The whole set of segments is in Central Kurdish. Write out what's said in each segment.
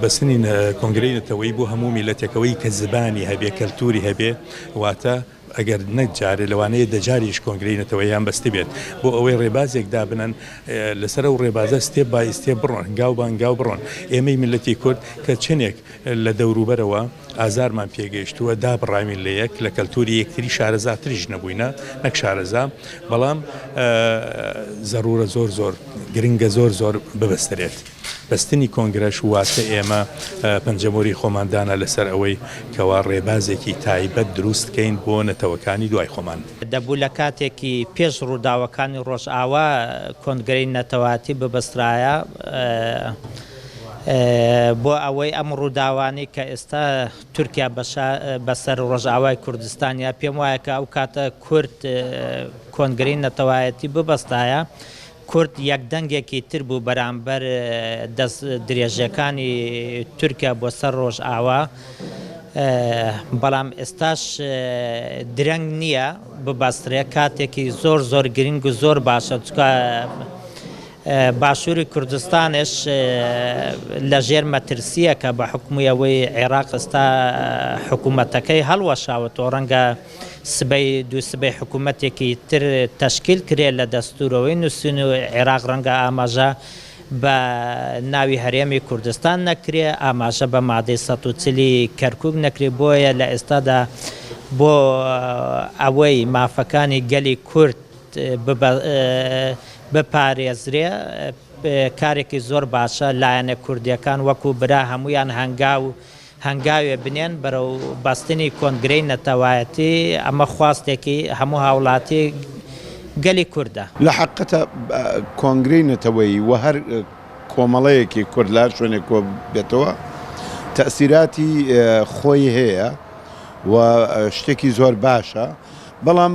بەستنی کۆنگرەی نەتەوەیی بۆ هەموو میلەتێکەوەی کە زبانی هەبێ کەلتوری هەبێ واتە ئەگەر نەک جارێ لەوانەیە دە جاریش کۆنگرەی نەتەوەیان بەستبێت بۆ ئەوەی ڕێبازێک دابنەن لەسەر ئەو ڕێبازە ستێپ بای ستێپ بڕۆن هەنگاو بە هەنگاو بڕۆن ئێمەی میلەتی کورد کە چنێک لە دەوروبەرەوە ئازارمان پێگەیشتووە دابڕاوین لە یەک لە کەلتوری یەکتری شارەزاتریش نەبووینە نەک شارەزا بەڵام زەرورە زۆر زۆر گرنگە زۆر زۆر ببەسترێت. بەستنی کۆنگرەش واتە ئێمە پەنجەمۆری خۆمان دانا لەسەر ئەوەی کەوا ڕێبازێکی تایبەت دروست کەین بۆ نەتەوەکانی دوای خۆمان. دەبوو لە کاتێکی پێش ڕووداوەکانی ڕۆژئاوا کۆنگرەی نەتەوایەتی ببەسترایە بۆ ئەوەی ئەم ڕووداوانەی کە ئێستا تورکیا بەسەر ڕۆژئاوای کوردستان یا پێم وایە کە ئەو کاتە کورد کۆنگرەی نەتەوایەتی ببەستایە کورد یەک دەنگێکی تر بوو بەرامبەر دەست درێژەکانی تورکیا بۆ سەر ڕۆژئاوا، بەڵام ئێستاش درەنگ نییە ببەسترێ، کاتێکی زۆر زۆر گرنگ و زۆر باشە، چونکە باشووری کوردستانش لە ژێر مەترسییەکە بە حوکمی ئەوەی عێراق ئێستا حکوومەتەکەی هەڵوەشاوەتەوە، ڕەنگە سبەی دوو سبەی حکوومەتێکی تر تەشکیل کرێ لە دەستوورەوەی نووسین و عێراق ڕەنگە ئاماژە بە ناوی هەرێمی کوردستان نەکرێ، ئاماژە بە مادەی سەد و چل ی کەرکووک نەکرێ، بۆیە لە ئێستادا بۆ ئەوەی مافەکانی گەلی کورد بپارێزرێ کارێکی زۆر باشە، لایەنە کوردییەکان وەکوو برا هەموویان هەنگاو هەنگاوێ بنێن بەرەو بەستنی کۆنگرەی نەتەوایەتی، ئەمە خواستێکی هەموو هاوڵاتی گەلی کوردە. لە حەقیقەتا کۆنگرەی نەتەوەیی و هەر کۆمەڵەیەکی کورد لە هەر شوێنێک کۆ بێتەوە تەئسیراتی خۆی هەیە و شتێکی زۆر باشە، بەڵام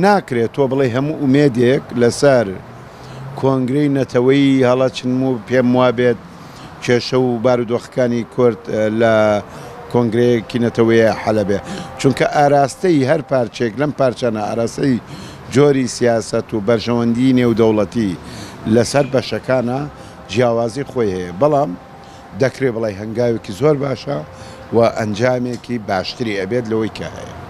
ناکرێت تۆ بڵێی هەموو ئومێدێک لەسەر کۆنگرەی نەتەوەیی هەڵەچن و پێم وابێت کێشە و بارودۆخەکانی کورد لە کۆنگرەیەکی نەتەوەیە حەلە بێ چونکە ئاراستەی هەر پارچێک لەم پارچانە ئاراستەی جۆری سیاسەت و بەرژەوەندی نێودەوڵەتی لەسەر بەشەکانە جیاوازی خۆی هەیە بەڵام دەکرێ بڵێ هەنگاوێکی زۆر باشە و ئەنجامێکی باشتری ئەبێت لەوەی کە هەیە.